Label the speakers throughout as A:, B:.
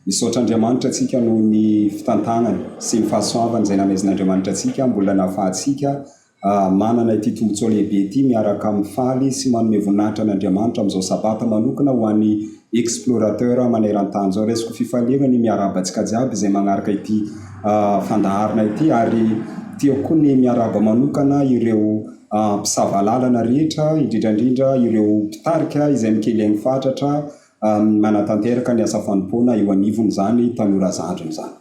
A: Misaotra Andriamanitra antsika noho ny fitantanany sy ny fahasoavany izay namezin'Andriamanitra antsika mbola nahafahantsika manana ity tombotsoa lehibe ity miaraka amin'ny faly sy manome voninahitra an'Andriamanitra amin'izao Sabata manokana ho an'ny Explorateur maneran-tany izao. Raisiko fifaliana ny miarahaba antsika jiaby izay magnaraka ity fandaharana ity ary tiako koa ny miarahaba manokana ireo mpisava lalana rehetra indrindra indrindra ireo mpitarika izay mikely aigny fatratra manatanteraka ny asa fanompoana eo anivon' izany tanora zandriny izany.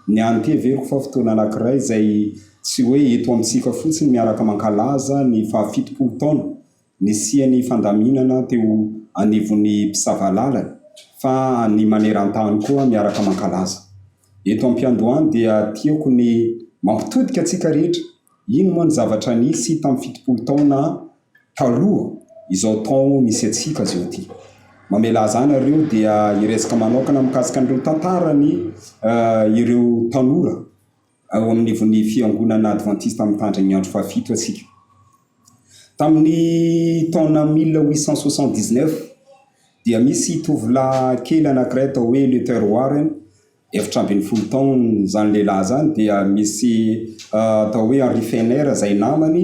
A: Ny anteveriko fa fotoana anankiray izay tsy hoe eto amintsika fotsiny miaraka mankalaza ny faha fitopolo taona Nisian'ny fandaminana teo anivon'ny mpisava lalana fa any maneran-tany koa miaraka mankalaza. Eto am-piandohany dia tiako ny mampitodika antsika rehetra, iny moa ny zavatra nisy tamin'ny fitopolo taona taloha izao taon misy antsika zao ity. Mamelà aza nareo dia hiresaka manaokana mikasika an'ireo tantaran'ny ireo tanora. Ao anivon'ny Fiangonana Advantista Mitandrina ny Andro Fahafito antsika. Tamin'ny taona mille huit cent soixante-dix-neuf dia misy tovolahy kely anankiray atao hoe Luther Warren, efatra ambin'ny folo taona izany lehilahy izany, dia misy atao hoe Henry Fenner izay namany,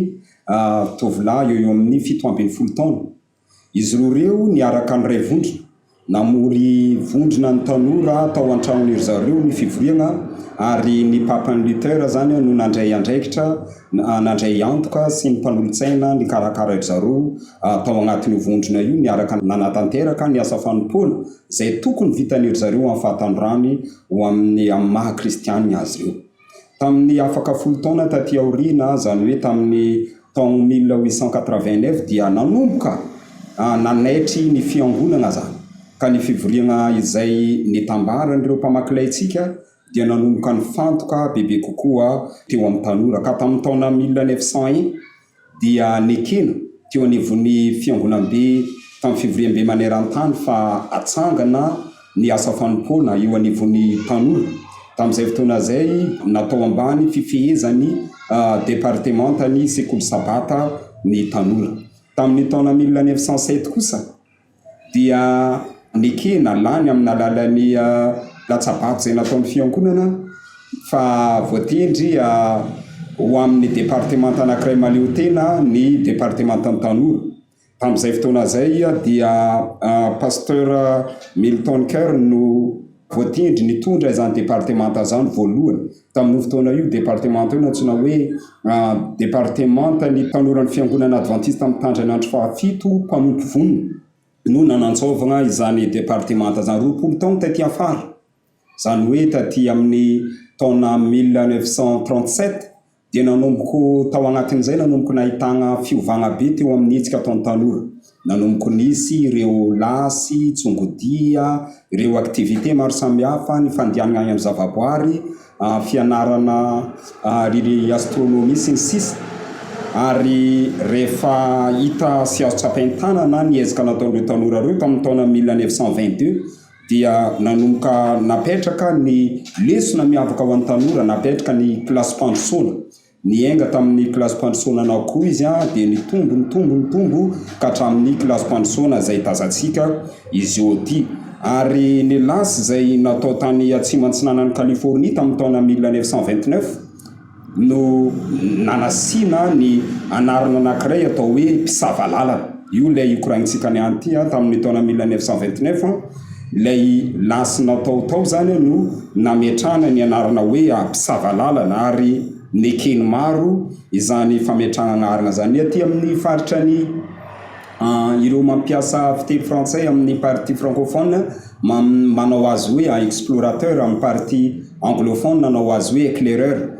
A: tovolahy eo ho eo amin'ny fito ambin'ny folo taona. Izy roa ireo niaraka niray vondrona namory vondrona ny tanora tao an-tranon'i ry zareo ny fivoriana ary ny Papan'i Luther izany no nandray andraikitra nandray antoka sy ny mpanolotsaina nikarakara ry zareo tao anatin'io vondrona io niaraka nanatanteraka ny asa fanompoana izay tokony vitan'i ry zareo amin'ny fahatanorany ho amin'ny amin'ny maha kristianina azy ireo. Tamin'ny afaka folo taona taty aoriana, izany hoe tamin'ny taon mille huit cent quatre-vingt-neuf, dia nanomboka nanaitry ny Fiangonana izany, ka ny fivoriana izay nitambaran'ireo mpamaky laintsika dia nanomboka nifantoka bebe kokoa teo amin'ny tanora, ka tamin'ny taona mille neuf cent un, dia nekena teo anivon'ny fiangonambe tamin'ny fivoriambe maneran-tany fa hatsangana ny asa fanompoana eo anivon'ny tanora. Tamin'izay fotoana izay, natao ambany fifehezan'ny departemantan'ny sekoly sabata ny tanora. Tamin'ny taona mille neuf cent sept kosa, dia nekena lany amin'ny alalan'ny latsabato izay nataon'ny fiangonana fa voatendry ho amin'ny departemanta anankiray mahaleo tena ny departemantan'ny tanora. Tamin'izay fotoana izay dia Pasteur Milton Kern no voatendry nitondra izany departemanta izany voalohany. Tamin'io fotoana io, departemanta io nantsoina hoe Departemantan'ny Tanoran'ny Fiangonana Advantista Mitandrina ny Andro Fahafito, Mpanompo Vonona, no nanantsôvagna izany departemanta izany roapolo taogno taty afara, izany hoe taty amin'ny taona mille neuf cent trente-sept, dia nanomboko tao agnatin'izay nanomboko nahitagna fiovagna be teo amin'ny hetsika ataon'ny tanora. Nanomboka nisy ireo lasy, tsongodia, ireo activités maro samihafa, ny fandianana any amin'ny zavaboary, fianarana ny astronomie sy ny sisa Ary rehefa hita sy azo tsapain-tanana ny ezaka nataon'ireo tanora ireo tamin'ny taona mille neuf cent vingt deux dia nanomboka napetraka ny lesona miavaka ho an'ny tanora, napetraka ny kilasim-pandrosoana. Niainga tamin'ny kilasim-pandrosoana anao koa izy, dia nitombo, nitombo, nitombo ka hatramin'ny kilasim-pandrosoana izay tazantsika izy ôty. Ary ny lasy izay natao tany atsimo antsinanan'i Californie tamin'ny taona mille neuf cent vingt-neuf no nanasiana ny anarana anankiray atao hoe mpisava lalana. Io ilay io koragnintsika niany ity tamin'ny taona mille neuf cent vingt-neuf. Ilay lasy natao tao izany no nametrahana ny anarana hoe mpisava lalana ary neken'ny maro izany fametrahana anarana izany. Ny aty amin'ny faritra ny ireo mampiasa fiteny frantsay amin'ny partie francophone manao azy hoe explorateur, amin'ny partie anglophone nanao azy hoe éclaireur.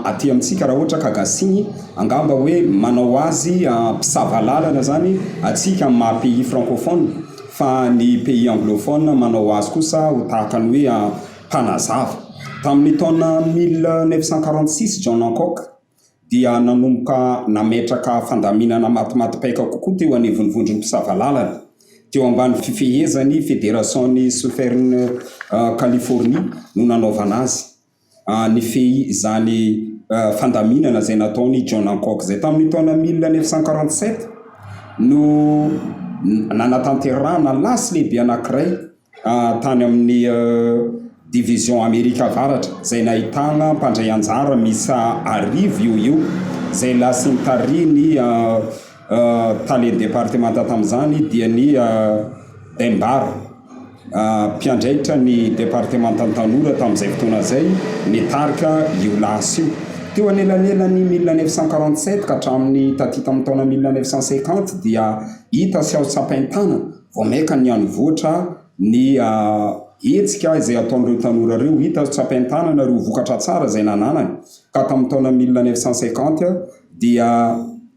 A: Aty amintsika raha ohatra ka gasy angamba hoe manao azy mpisava lalana izany atsika amin'ny maha pays francophone. Fa ny pays anglophone manao azy kosa ho tahaka ny hoe mpanazava. Tamin'ny taona mille neuf cent quarante six, John Hancock dia nanomboka nametraka fandaminana matimatipaika kokoa teo anivon'ny vondron'ny mpisava lalana, teo ambany fifehezan'ny Federasaon'ny Southern Californie no nanaovana azy. nifehy izany fandaminana izay nataon' i John Hancock izay tamin' ny taona mille neuf cent quarante sept no nanatanterahana lasy lehibe anankiray tany amin' ny Divizion Amerika Avaratra izay nahitana mpandray anjara miisa arivo eo ho eo izay lasy nitarihin' i Tale departemanta tamin'izany dia ny Daim-Bar, mpiandraikitra ny departemantan'ny tanora tamin'izay fotoana izay, nitarika io lasa io. Teo anelanelan'ny mille neuf cent quarante sept ka hatramin'ny taty tamin'ny taona mille neuf cent cinquante dia hita sy azo tsapain-tanana vao mainka ny hanivoatra ny hetsika izay ataon'ireo tanora ireo. Hita sy tsapain-tanana ireo vokatra tsara izay nananany ka tamin'ny taona mille neuf cent cinquante dia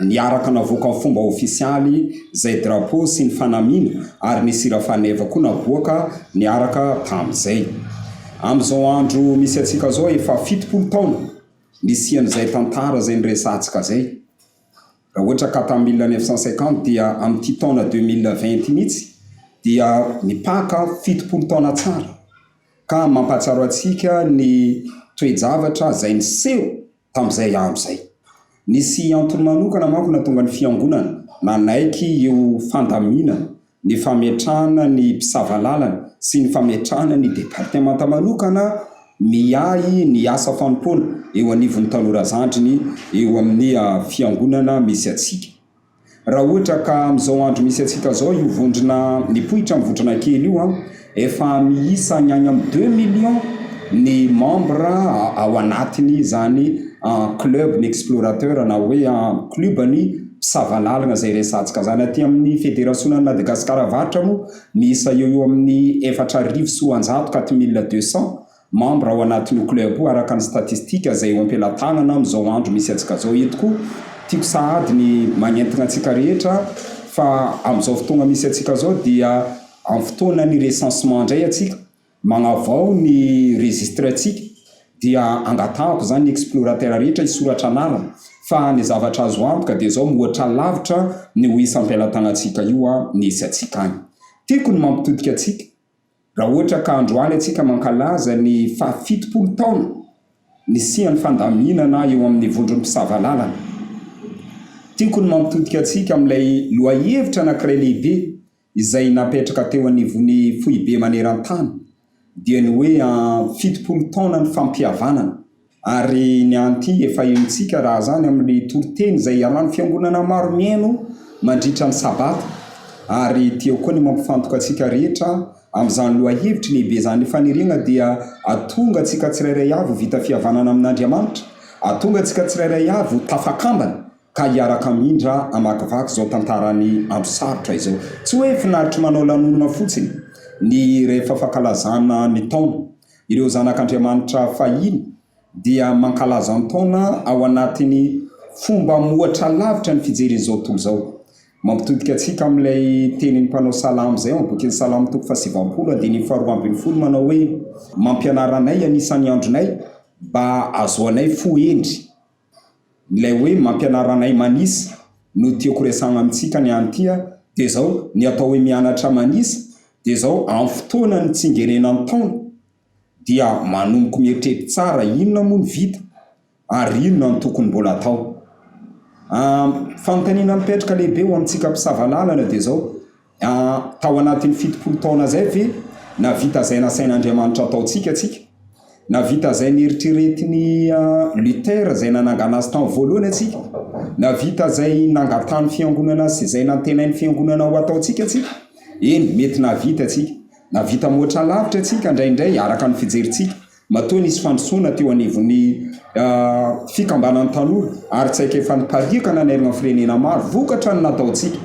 A: Niaraka navoaka ho fomba ofisialy izay drapeau sy ny fanamiana ary nisy hira faneva koa naboaka niaraka tamin'izay. Amin'izao andro misy antsika izao efa fitopolo taona nisian'izay tantara izay niresahantsika izay. Raha ohatra ka tamin'ny mille neuf cent cinquante dia amin'ity taona deux mille vingt ity mihitsy dia mipaka fitopolo taona tsara ka mampahatsiaro antsika ny toe-javatra izay niseho tamin'izay andro izay. Nisy antony manokana manko nahatonga ny Fiangonana nanaiky io fandaminana ny fametrahana ny mpisava lalana sy ny fametrahana ny departemanta manokana miahy ny asa fanompoana eo anivon'ny tanora zandriny eo amin'ny Fiangonana misy antsika. Raha ohatra ka amin'izao andro misy antsika izao io vondrona mipoitra amin'ny vondrona kely io an, efa miisa ny any amin'ny deux millions ny membre ao anatin'izany club-ny explorateur na hoe club-ny mpisava lalina izay resahantsika izany. Aty amin'ny federasionan'i Madagasikara Avaratra moa miisa eo ho eo amin'ny efatra arivo sy roanjato, quatre mille deux cents, Membre ao anatin'io club io araka ny statistique zay eo ampelatanana amin'izao andro misy antsika zao eto koa tiako sahady ny magnentagna antsika rehetra fa amin'izao fotoagna misy antsika zao dia amin'ny fotoanan'ny recensement ndray antsika magnavao ny registre antsika dia angatahako zany explorateur rehetra hisoratra anarana fa ny zavatra azo antoka dia zao mihoatra lavitra ny ho isa ampelatagnantsika io misy antsika any tiako ny mampitodika antsika Raha ohatra ka androany antsika mankalaza ny fahafitopolo taona nisian'ny fandaminana eo amin'ny vondron'ny mpisava lalana. Tiako ny mampitodika antsika amin'ilay lohahevitra anankiray lehibe izay napetraka teo anivon'ny foibe maneran-tany, dia ny hoe fitopolo taonan'ny fampihavanana. Ary ny anti efa henontsika raha izany amin'ilay toriteny izay iharan'ny fiangonana maro miheno mandritra ny Sabata. Ary ity eo koa ny mampifantoka antsika rehetra amin'izany lohahevitry ny hebezan'ny fanerena dia atonga antsika tsirairay avy ho vita fihavanana amin'Andriamanitra, atonga antsika tsirairay avy ho tafakambana ka hiaraka hamindra hamakivaky izao tantaran'ny andro sarotra izao. Tsy hoe finaritry manao lanonana fotsiny ny rehefa fankalazana ny taona. Ireo zanak'Andriamanitra fahiny dia mankalaza ny taona ao anatin'ny fomba mihoatra lavitra ny fijerin'izao tontolo izao. Mampitodika antsika amin'ilay tenin'ny mpanao salamo izay ao amin'ny bokin'ny Salamo toko fahasivambolo andininy faharoa ambin'ny folo manao hoe, Mampianara anay anisan'ny andronay mba hahazoanay fo hendry. Ilay hoe mampianara anay manisa no tiako resahana amintsika ny any ity a! Dia izao, ny atao hoe mianatra manisa dia izao, amin'ny fotoanan'ny tsingerenan'ny taona dia manomboka mieritreritra tsara inona moa no vita ary inona no tokony mbola hatao. Ny fanontaniana mipetraka lehibe ho amintsika mpisava lalana dia izao, Tao anatin'ny fitopolo taona izay ve nahavita izay nasain'Andriamanitra hataontsika isika? Nahavita izay neritreretin'i Luther izay nanangana azy tamin'ny voalohany isika? Nahavita izay nangatahan'ny Fiangonana sy izay nantenain'ny Fiangonana ho hataontsika isika? Eny, mety nahavita isika. Nahavita mihoatra lavitra isika indraindray, araka ny fijerintsika. Matoa nisy fandrosoana teo anivon'ny fikambanan'ny tanora ary tsy haikefa nipariaka nanerana firenena maro vokatra ny nataontsika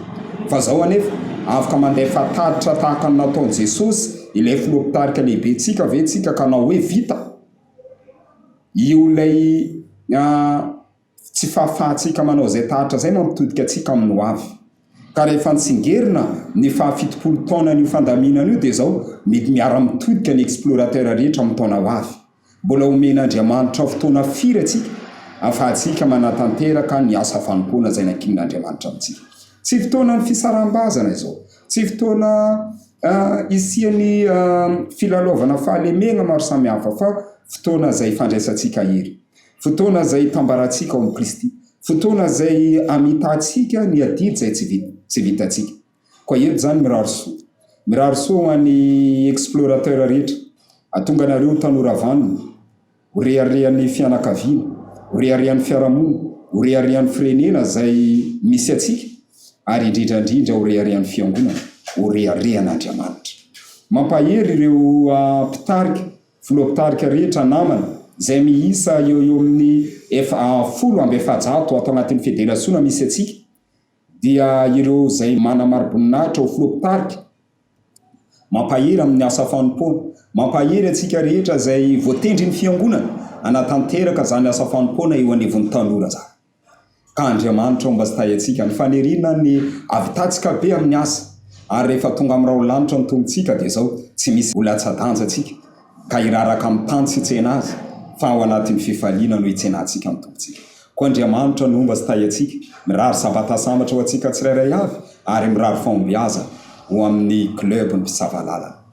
A: fa izao anefa afaka mandefa tatitra tahaka ny nataon'i Jesosy ilay filoha mpitarika lehibentsika ve tsika ka na hoe vita io ilay Tsy fahafahantsika manao izay tahatra izay mampitodika antsika amin'ny hoavy. Ka rehefa nitsingerina ny fahafitopolo taonan'io fandaminana io dia izao mety miara-mitodika ny explorateurs rehetra amin'ny taona ho avy. Mbola omen'Andriamanitra fotoana firy antsika afahantsika manatanteraka ny asa fanompoana izay nankinin'Andriamanitra amintsika? Tsy fotoanan'ny fisaraham-bazana izao. Tsy fotoana hisian'ny filalaovana fahalemena maro samihafa fa fotoana izay fandraisantsika hery. Fotoana izay hitambarantsika ao amin'i Kristy. Fotoana izay hamitantsika ny adidy izay tsy vita, tsy vitantsika. Koa eto izany mirary soa. Mirary soa ho an'ny explorateurs rehetra. Atonga anareo ho tanora vanona, ho reharehan'ny fianakaviana, ho reharehan'ny fiarahamonina, ho reharehan'ny firenena izay misy antsika, ary indrindra indrindra ho reharehan'ny fiangonana, ho reharehan'Andriamanitra. Mampahery ireo mpitarika Filoha mpitarika rehetra namana, izay miisa eo ho eo amin'ny ef a folo amby efajato ato anatin'ny federasiona misy antsika, dia ireo izay manana mari-boninahitra ho filoha mpitarika. Mampahery amin'ny asa fanompoana. Mampahery antsika rehetra izay voatendrin'ny Fiangonana hanatanteraka izany asa fanompoana eo anivon'ny tanora izany. Ka Andriamanitra ao mbastayantsika ny faniriana ny havitantsika be amin'ny asa ary rehefa tonga amin'ny raolanitra ny Tompontsika dia izao tsy misy vola tsadanja tsika ka hiraraka amin'ny tany tsy tsena azy fa ao anatin'ny fifaliana no hitsenantsika ny Tompontsika koa Andriamanitra no mbastayantsika mirary sabatasamatra ho antsika tsirairay avy ary mirary fahombiazana ho amin'ny club ny mpisava lalana